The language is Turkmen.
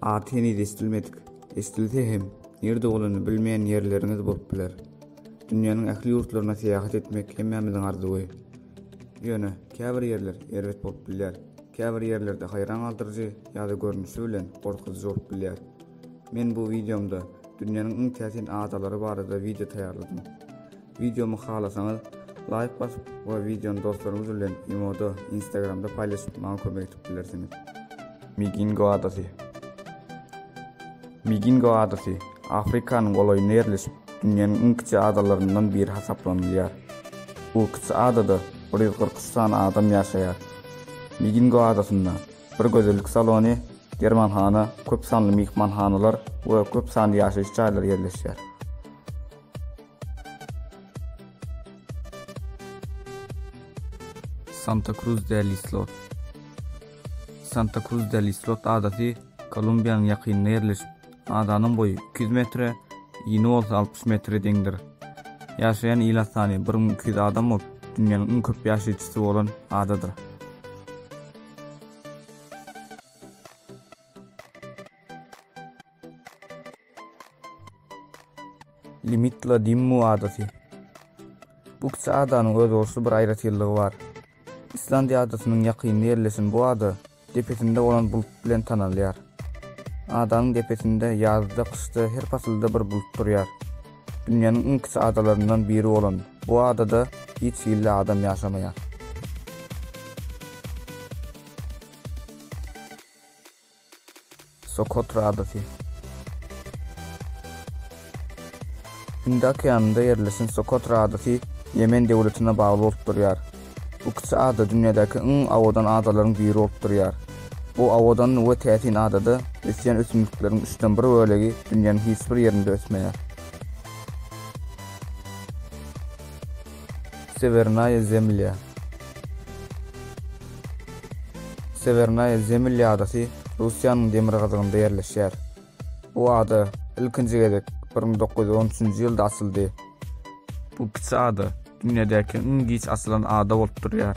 At heniz esdilmedik. Esdilse hem, nirde bolany bilmeýän ýerleriňiz bolup biler. Dünýäniň ähli ýurtlaryna syýahat etmek hemmämiziň arzuwy. Ýöne, käbir ýerler erbet bolup bilýär. Käbir ýerlerde haýran galdyryjy ýa-da görnüşi bilen gorkuzyjy bolup bilýär. Men bu wideomda dünýäniň iň täsin adalary barada wideo taýýarladym. Wideomy halasaňyz laýk basyp we wideony dostlaryňyz bilen imoda, instagramda paýlaşyp maňa kömek edip bilersiňiz. Migingo adasy. Migingo adasy Afrikanyň golaýynda ýerleşip, dünýäniň iň kiçi adalaryndan biri hasaplanylýar. Bu kiçi adada bir ýüz kyrk üç sany adam ýaşaýar. Migingo adasynda bir gözellik salony, dermanhana, köp sanly myhmanhanalar we köp sanly ýaşaýyş jaýlary ýerleşýär. Santa Cruz del Islot Santa Cruz del Islot adasy Kolumbiýanyň ýakynynda ýerleşip, Adanyň boýy 200 metre, ýyny bolsa 60 metre deňdir. Ýaşaýan ila sany 1200 adam bolup, dünýäniň iň köp ýaşaýjysy bolan adadyr. Limitla Dimmu adasy. Bu kiçi adanyň özboluşly bir aýratynlygy bar. Islandiýa adasynyň ýakynynda ýerleşen bu ada depesinde bolan bulut bilen tanalýar. Adanyň depesinde ýazda-kyşda her pasylda bir bulut durýar. Dünýäniň iň kiçi adalaryndan biri bolan bu adada hiç hilli adam ýaşamaýar. Sokotra adasy. Hindi okeanynda ýerleşen Sokotra adasy Ýemen döwletine bagly bolup durýar. Bu kiçi ada dünýädäki iň owadan adalaryň biri bolup durýar. Bu owadan we täsin adada ösýän ösümlikleriň üçden bir bölegi dünýäniň hiç bir ýerinde ösmeýär. Sewernaýa Zemlýa Sewernaýa Zemlýa adasy Russiýanyň demirgazygynda ýerleşýär. Bu ada ilkinji gezek bir müň dokuz ýüz on üçünji ýylda açyldy. Bu kiçi ada dünýädäki iň giç açylan ada bolup durýar.